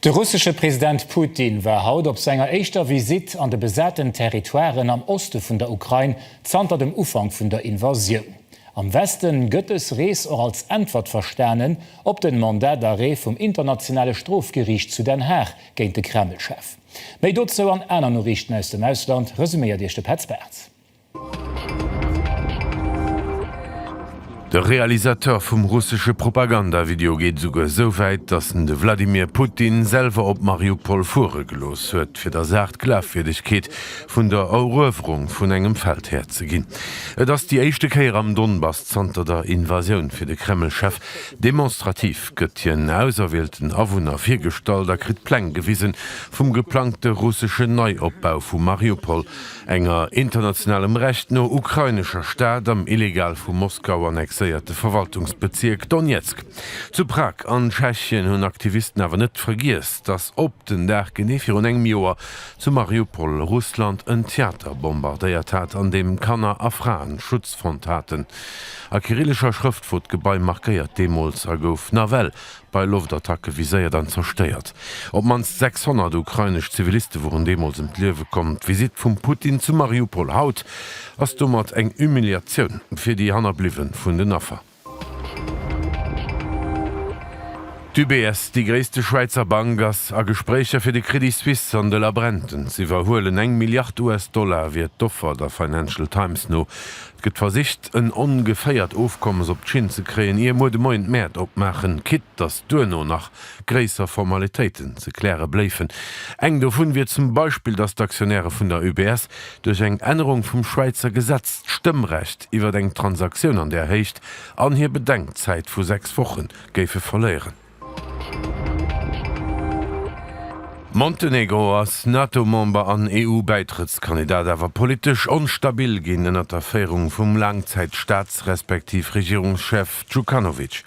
De russesche President Putin war haut op senger éischter Visitt an de besaten Territoiren am Oste vun der Ukrain zanter dem Ufank vun der Invasioun. Am Weste gëtt dës Rees och als Äntwert verstanen op den Mandat d'arrêt vum Internationale Strofgeriicht zu Den Haag géint de Kreml-Chef. Méi dozou an aner Noriichten aus dem Ausland resuméiert Iech de Petz Bartz. De Realisateur vum russesche Propaganda-Video geet esouguer esou wäit, datt en de Wladimir Putin selwer op Mariupol fuere gelooss huet, fir der Saach d'Glafwierdegkeet vun der Eruewerung vun engem Feld herzeginn. Et ass déi éischte Kéier am Donbass zanter der Invasioun. Fir de Kreml-Chef demonstrativ gëtt hien auserwielten Awunner virgestallt a kritt Pläng gewisen vum geplangte russeschen Neiopbau vu Mariupol, enger internationalem Recht no ukrainescher Stad am illegal vu Moskau annexéierte Verwaltungsbezierk Donezk. Zu Prag an Tschechien hunn Aktivisten awer net vergiess, datt op den Dag genee virun engem Joer zu Mariupol Russland en Theater bombardéiert hat, an deem Kanner a Fraen Schutz fonnt haten. A kyrillescher Schrëft wor d'Gebai markéiert deemools a gouf nawell bei Loftattacke viséiert an zerstéiert. Op d'mannst 600 ukrainesch Ziviliste woren deemools ëm d'Liewe komm. D'Visitt vum Putin zu Mariupol haut ass domat eng Humiliatioun fir déi Hannerbliwwe vun den Affer. D'UBS, déi gréisste Schwäizer Bank, ass a Gespréicher fir de Credit Suisse an de Labrenten z'iwwerhuelen. Eng Milliard US-Dollar wier d'Offer, der Financial Times no. Et gëtt versicht, en ongeféiert Ofkommes op d'Schinn ze kréien, ier muer de Moien d'Mäert opmaachen, quitt datt duerno nach gréisser Formalitéiten ze kläre bléifen. Eng dovun wier zum Beispill, datt d'Aktionäre vun der UBS duerch eng Ännerung vum Schwäizer Gesetz d'Stëmmrecht iwwert eng Transaktioun an där Héicht an hir Bedenkzäit vu sechs Woche géife verléieren. Montenegro ass NATO-Member an EU-Bäitrëttskandidat, awer politesch onstabil ginn ënnert der Féierung vum Laangzäit-Staats respektiv Regierungschef Djukanovic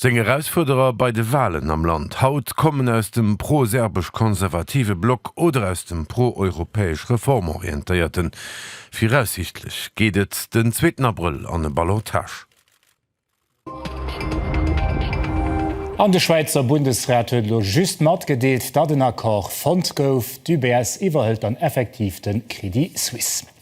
seng Erausfuerderer bei de Walen am Land haut kommen aus dem pro-serbesch-konservative Block oder aus dem pro-europäesch reformorientéierten. Viraussiichtlech geet et den zweeten Abrëll an e Ballottage. An de Schwäizer Bundesrat huet elo just matgedeelt, datt en Accord fonnt gouf. D'UBS iwwerhëlt dann effektiv de Crédit Suisse.